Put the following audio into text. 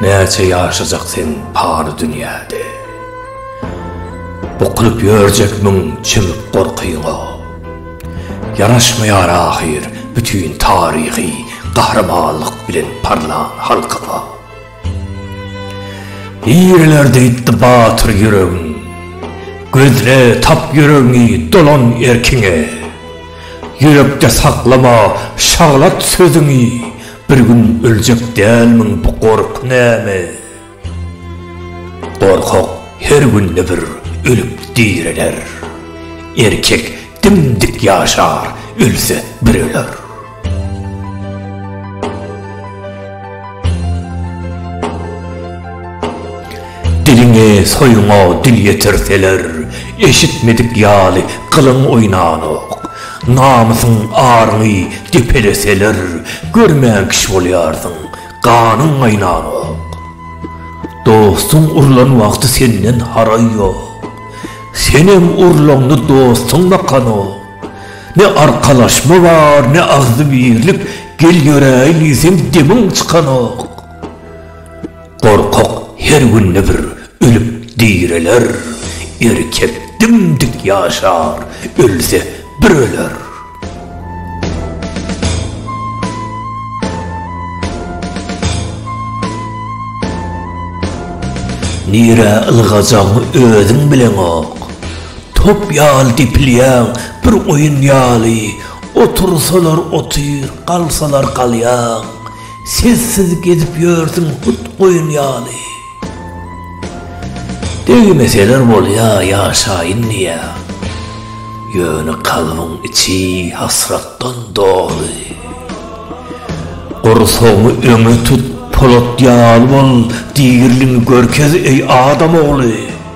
Näçe ýaşajak seň pany dünýäde? Bukulyp ýörjek müň çümük gorkyňa. Ýaraşmaýar ahyr bütin taryhy gahrymanlyk bilen parlan halkyňa. Ireler diýipdi batyr ýüregiň. Gözle, tap ýüregiňi, dolan erkiňe. Ýürekde saklama şaglat sözüňi, Bir gün öljek dälmiň bu gorky näme? Gorkak her günde bir ölüp direler, Erkek dim-dik ýaşar, ölse bir öler. Diliňi soýuňa dil ýetirseler, eşitmedik ýaly gylyň oýnanok. Namysyň aryňy depeleseler, görmän kişi bolýarsyň, ganyň gaýnanok. Dostuň urlan wagty senden haraý ýok. Senem urlaňda dostuň bakanok. Ne arkalaşma bar, ne agzybirlik, gel ýöräýin diýsem demiň çykanok. Gorkak her günde bir ölüp direler, erkek dim-dik ýaşar, ölse bir öler. Nirä ylgajagyňy özüň bileňok. Top ýaly depilýäň, bir oýun ýaly, Otursalar otyr, galsalar galýaň. Sessiz gezip ýörsüň hut goýun ýaly. Degmeseler bolýa ýaşaýyn diýýäň. Ýöne kalbyň içi hasratdan doly. Gursagyňy öňe tut, polat ýaly bol, Dirligiňi görkez, eý adam ogly.